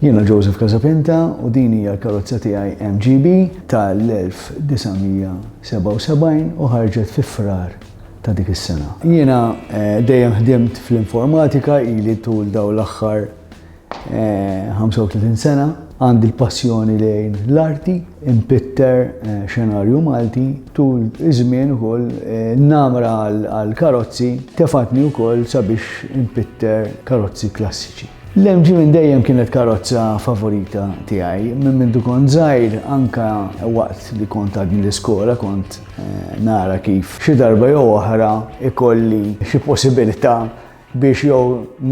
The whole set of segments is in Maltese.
Jiena Joseph Casapinta u din hija l-karozza tiegħi MGB tal-1977 u ħarġet fi Frar ta' dik is-sena. Jiena dejjem ħdimt fl-informatika ili tul dawn l-aħħar 35 sena. Għandi l-passjoni lejn l-arti, inpitter xenarju Malti, tul iż-żmien ukoll n-namra għall-karozzi tefgħetni wkoll sabiex inpitter karozzi klassiċi. L-MG minn dejjem kienet karozza favorita tiegħi. Minn mindu kont żgħir anka waqt li kont għadni l-iskola kont eh, nara kif xi darba jew oħra ikolli xi possibilità biex jew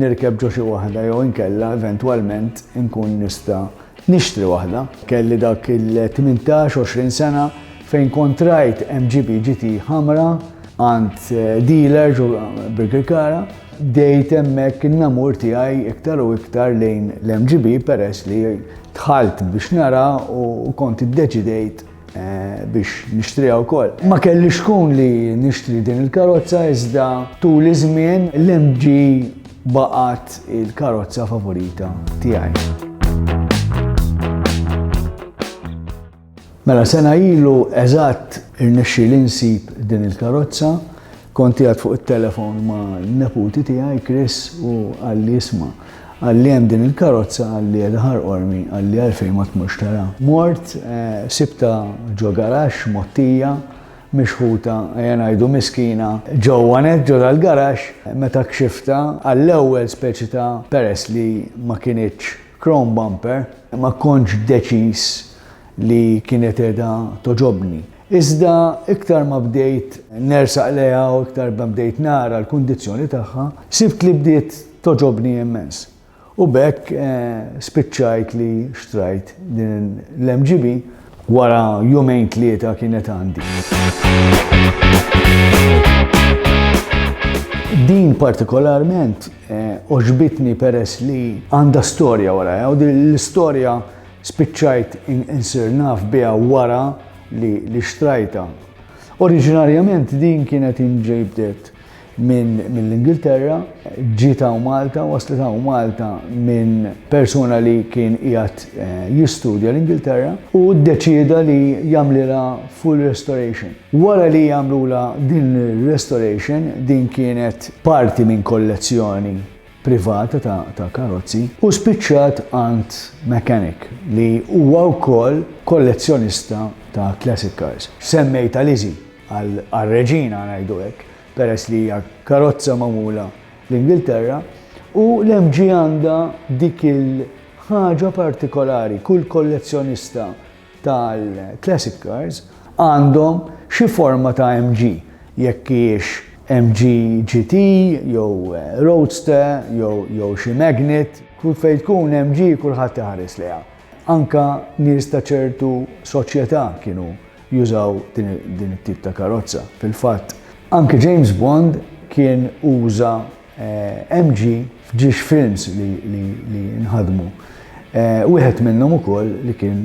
nirkeb ġo xi waħda jew inkella eventwalment inkun nista' nixtri waħda. Kelli dak il-18-20 sena fejn kontrajt MGB GT ħamra għand eh, dealer ġo Birkirkara Bdejt hemmhekk in-namur tiegħi iktar u iktar lejn l-MGB peress li dħalt biex nara u kont iddeċidejt eh, biex nixtriha wkoll. Ma kelli xkun li nixtri din il-karozza iżda tul iż-żmien l-MG baqgħet il-karozza favorita tiegħi. Mela sena ilu eżatt irnexxieli nsib din il-karozza, kont qiegħed fuq it-telefon ma' neputi tiegħi Chris u qalli isma' qalli hemm din il-karozza qalli qiegħda ħarqormi qalli għalfejn ma tmurx tara. Mort sibtha ġo garaxx mgħottija, mixħuta ejja ngħidu miskina, ġewwa nett ġo dal-garaxx meta kxiftha għall-ewwel speċi ta' peress li ma kinitx Chrome Bumper, ma kontx deċiż li kienet qiegħda togħġobni. Iżda iktar ma bdejt nersaq lejha u iktar ma bdejt nara l-kundizzjoni tagħha, sibt li bdiet togħġobni immens. U b'hekk spiċċajt li xtrajt din l-MGB. Wara jumejn tlieta kienet għandi. Din partikolarment eh, oġbitni peress li għandha storja wara, eh, u l-istorja spiċċajt insir naf biha wara li xtrajta. Oriġinarjament din kienet inġibdet minn mill-Ingilterra, ġiet hawn Malta, waslet hawn Malta minn persuna li kien qiegħed eh, jistudja l-Ingilterra u ddeċieda li jagħmlilha full restoration. Wara li jagħmlula din restoration, din kienet parti minn kollezzjoni privata ta', ta karozzi u spiċċat għand mechanic li huwa wkoll kollezzjonista ta' classic cars. Semmejta Lizzie għar-Reġina ngħidu hekk, peress li hija karozza magħmula l-Ingilterra, u l-MG għandha dik il-ħaġa partikolari, kull kollezzjonista tal-classic cars għandhom xi forma ta' MG, jekk hijiex MG GT jew Roadster jew xi Magnet, kull fejn tkun MG kulħadd iħares lejha. Anke nies ta' ċertu soċjetà kienu jużaw din it-tip ta' karozza. Fil-fatt, anke James Bond kien uża MG f'ġiex films li nħadmu. Wieħed minnhom ukoll li kien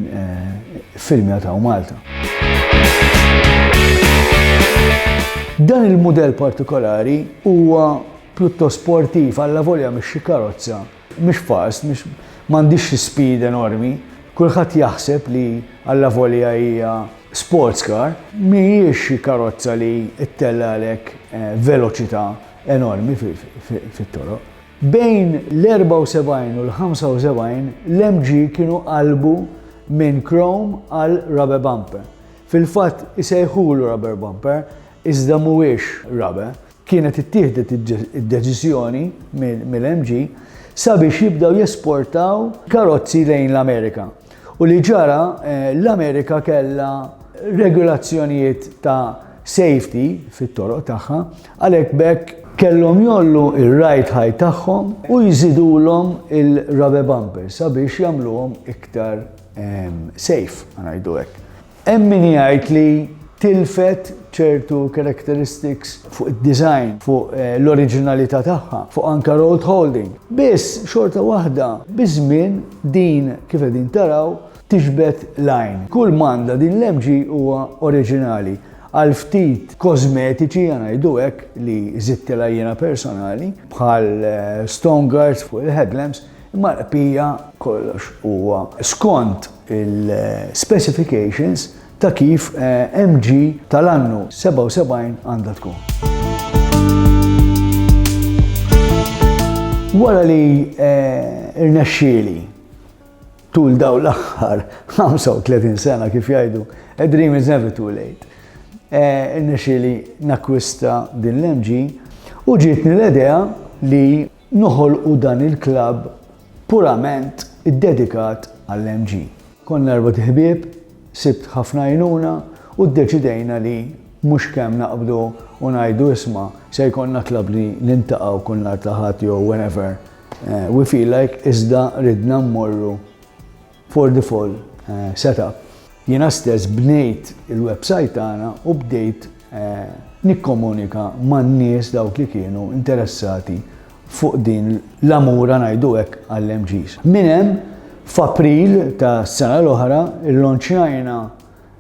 iffilmjat hawn Malta. Dan il-mudell partikolari huwa pjuttost sportiv allavolja mhix xi karozza Mhix fals, mhix, m'għandhiex xi speed enormi. Kulħadd jaħseb li allavolja hija sports car, mhijiex xi karozza li ttellagħlek veloċità enormi fit-toroq. Bejn l-74 u l-75 l-MG kienu qalbu minn chrome għal rubber bumper. Fil-fatt isejħulu rubber bumper iżda mhuwiex rubber. kienet ittieħdet id-deċiżjoni mill-MG sabiex jibdew jesportaw karozzi lejn l-Amerika. U li ġara eh, l-Amerika kellha regolazzjonijiet ta' safety fit-toroq tagħha, għalhekk bekk kellhom jollu ir-right high tagħhom u jżidulhom il-rubber bumpers sabiex jagħmluhom iktar ehm, safe, ngħidu hekk. Hemm min jgħid li tilfet ċertu characteristics fuq id-design, fuq l-oriġinalità tagħha, fuq anke road holding. Biss, xorta waħda, biż-żmien din, kif qegħdin taraw, tiġbed l-għajn. Kull m'għandha din l-MG huwa oriġinali, għal ftit kożmetiċi, ħa ngħidu hekk, li żidtilha jiena personali, bħal stone guards fuq il-headlamps, Imma l-qpija kollox huwa skont il-specifications ta' kif MG tal-annu 77 għandha tkun. Wara li rnexxieli tul dawn l-aħħar 35 sena kif jgħidu, a dream is never too late, irnexxieli nakkwista din l-MG u ġietni l-idea li noħolqu dan il-klabb purament iddedikat għall-MG. Konna erbgħet ħbieb, sibt ħafna għajnuna u ddeċidejna li mhux kemm naqbdu u ngħidu isma' se jkollna klabb li niltaqgħu kull nhar ta' Ħadd jew whenever we feel like iżda ridna mmorru For the Fall setup, jiena stess bnejt il-websajt tagħna u bdejt nikkomunika man-nies dawk li kienu interessati fuq din l-għamura ngħidu hekk għall-MGs. Minn hemm, f'April tas-sena l-oħra, illanċjajna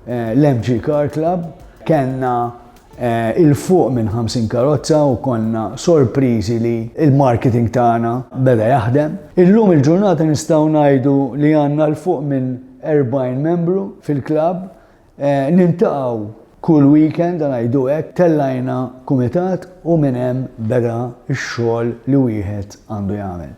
Eh, L-MG Car Club kellna eh, il-fuq minn 50 karozza u konna sorpriżi li il-marketing tagħna beda jaħdem. Illum il-ġurnata nistgħu ngħidu li għandna l-fuq minn 40 membru fil-klab, eh, nintaqgħu kull weekend għal għajdu hekk tellajna kumitat u minn hemm beda x-xogħol li wieħed għandu jagħmel.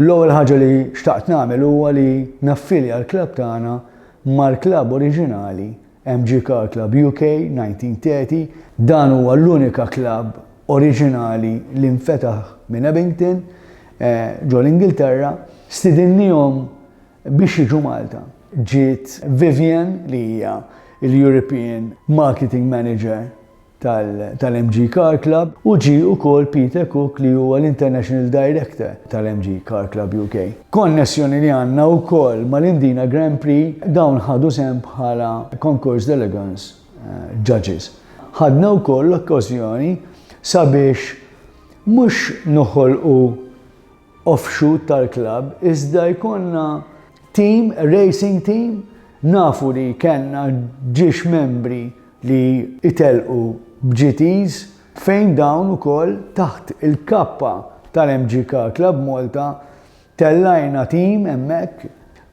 L-ewwel ħaġa li xtaqt nagħmel huwa li naffilja l-klab tagħna mal-klabb oriġinali MG Car Club UK 1930, dan huwa l-unika klabb oriġinali li nfetaħ minn Abington ġo l-Ingilterra, stidinniehom biex jiġu Malta. Ġiet Vivienne li hija l-European Marketing Manager tal-MG Car Club u ġie ukoll Peter Cook li huwa l-International Director tal-MG Car Club UK. Konnessjoni li għandna wkoll mal-Indina Grand Prix, dawn ħadu sehem bħala Concours d'Elegance Judges. Ħadna wkoll l-okkażjoni sabiex mhux noħolqu offshoot tal-klabb iżda jkollna tim, racing team, nafu li kellna ġiex membri li itellqu b'GTs fejn dawn ukoll taħt il-kappa tal-MGK Club Malta tellajna tim hemmhekk,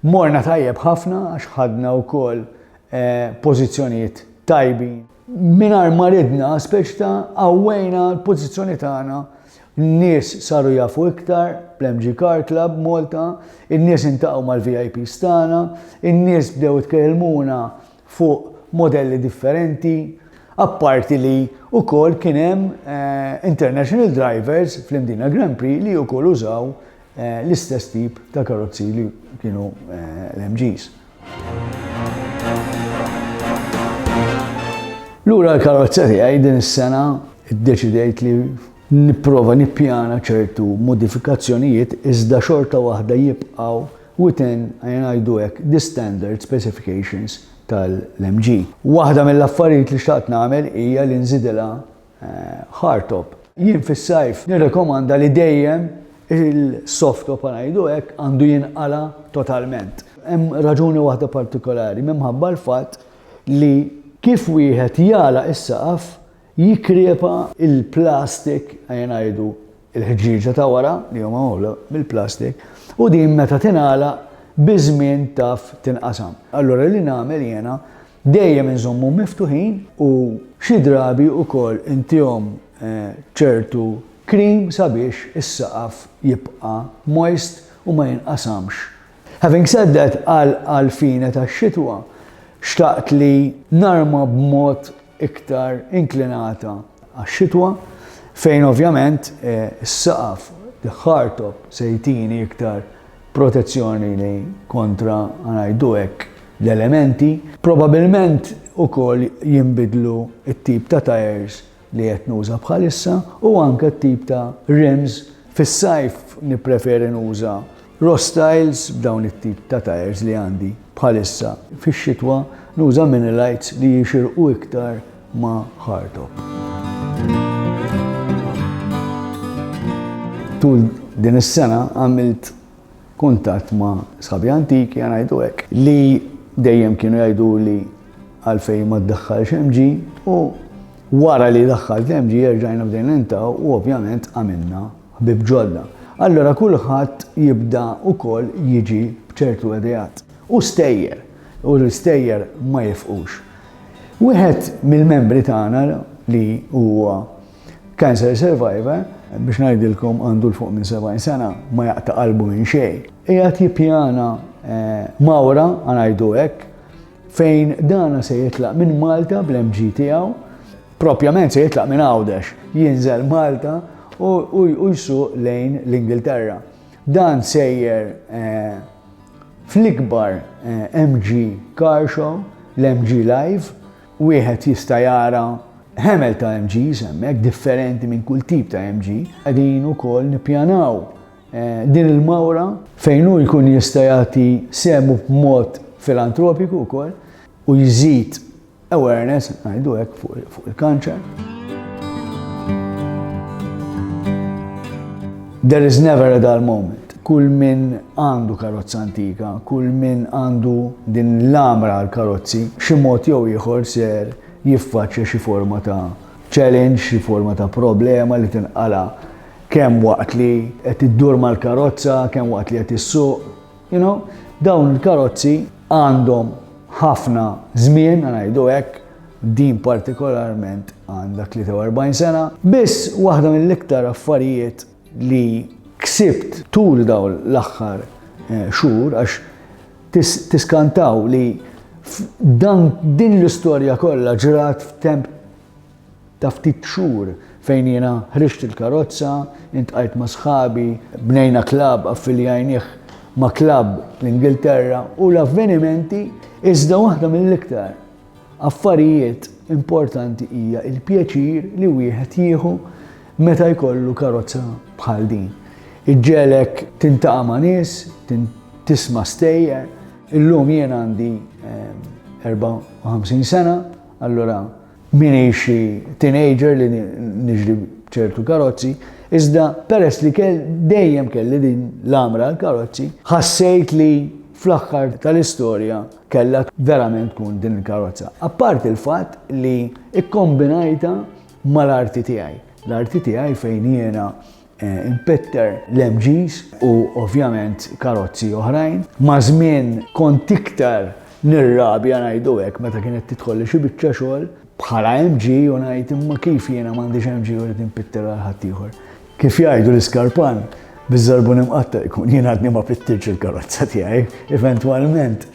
morna tajjeb ħafna għax ħadna wkoll pożizzjonijiet tajbin. Mingħajr ma ridna, speċi ta' qawwejna l-pożizzjoni tagħna, n-nies saru jafu iktar bl-MG Car Club Malta, in-nies intaqgħu mal-VIPs tagħna, in-nies bdew itkellmuna fuq modelli differenti, apparti li wkoll kien hemm international drivers fl-Imdina Grand Prix li wkoll użaw l-istess tip ta' karozzi li kienu l-MGs. Lura l-karozza tiegħi din is-sena ddeċidejt li nipprova nippjana ċertu modifikazzjonijiet iżda xorta waħda jibqgħu within, ejja ngħidu hekk, the standard specifications tal-MG. Waħda mill-affarijiet li xtaqt nagħmel hija li nżidilha Hardtop. Jien fis-sajf nirrekomanda li dejjem il-softtop ħa ngħidu hekk għandu jinqala' totalment. Hemm raġuni waħda partikolari, minħabba l-fatt li kif wieħed jagħlaq is-saqaf jikkrepa l-plastik, ejja ngħidu l-ħġieġa ta' wara li huma magħmula mill-plastik, u din meta tingħalaq biż-żmien taf tinqasam. Allura li nagħmel jiena Dejjem inżommhom miftuħin u xi drabi wkoll intihom ċertu cream sabiex is-saqaf jibqa' moist u ma jinqasamx. Having said that, għal fine tax-xitwa, xtaqt li narma b'mod iktar inklinata għax-xitwa, fejn ovvjament is-saqaf, the hardtop, se jtini iktar protezzjoni li kontra ngħidu hekk l-elementi, probabilment ukoll jinbidlu t-tip ta' tajers li qed nuża bħalissa u anke t-tip ta' rims. Fis-sajf nippreferi nuża Rostyles b'dawn it-tip ta' tajers li għandi bħalissa. Fix-xitwa nuża Minilites li jixirqu iktar ma' Hartog. Tul din is-sena għamilt kuntatt ma' sħabi antiki għan ngħidu hekk li dejjem kienu jgħidu li għalfejn ma ddaħħalx MG u wara li daħħalt l-MG jerġajna bdejn intaw u ovvjament għamilna ħbib ġodda. Allora kulħadd jibda ukoll jiġi bċertu edijat. U stejjer, u l-istejjer ma jifqux. Wieħed mill-membri tagħna li huwa cancer survivor, biex ngħidilkom għandu l fuq minn 70 sena, ma jaqta' qalbu minn xejn. Qiegħed jippjana eh, mawra ngħidu hekk fejn dana se jitlaq minn Malta bl-MG tiegħu, propjament se jitlaq minn Għawdex, jinżel Malta u jsuq lejn l-Ingilterra. Dan sejjer eh, Fl-ikbar MG Car Show, l-MG Live, wieħed jista' jara ħemel ta' MGs hemmhekk, differenti minn kull tip ta' MG. Qegħdin ukoll nippjanaw din il-mawra fejn hu jkun jista' jagħti sehmu b'mod filantropiku wkoll u jżid Awareness, ngħidu hekk, fuq il-kanċer. There is never a dull moment kull min għandu karozza antika, kull min għandu din l-amra għal karozzi, xi mod jew ieħor ser jiffaċċja xi forma ta' challenge, xi forma ta' problema li tinqala kemm waqt li qed iddur mal-karozza, kemm waqt li qed issuq, You know, dawn il-karozzi għandhom ħafna żmien, ngħidu hekk, din partikolarment għandha 43 sena. Biss waħda mill-iktar affarijiet li ksibt tul dawn l-aħħar eh, xhur għax tiskantaw li dan din l-istorja kollha ġrat f'temp Ta' ftit xhur fejn jiena ħriġt il-karozza, intqajt ma' sħabi, bnejna klabb, affiljajnieh ma' klabb fl-Ingilterra u l-avvenimenti, iżda waħda mill-iktar affarijiet importanti hija l-pjaċir li wieħed jieħu meta jkollu karozza bħal din. Iġġegħlek tintaqa' ma' nies, tisma' stejjer. Illum jien għandi 54 sena. Allura m'iniex xi teenager li niġri b'ċertu karozzi, iżda peress li dejjem kelli din l-għamra għall-karozzi, ħassejt li fl-aħħar tal-istorja kellha verament tkun din il-karozza. Apparti l-fatt li kkombinajtha mal-arti tiegħi. L-arti tiegħi fejn jiena Inpitter l-MGs u ovvjament karozzi oħrajn. Maż-żmien kont iktar nirrabja ngħidu hekk meta kienet tidħolli xi biċċa xogħol bħala MG u ngħid imma kif jiena m'għandix MG u rrid inpitter għal ħaddieħor. Kif jgħidu l-iskarpan, biż-żarbun imqatta' jkun, jien għadni ma pittirtx il-karozza tiegħi, eventwalment.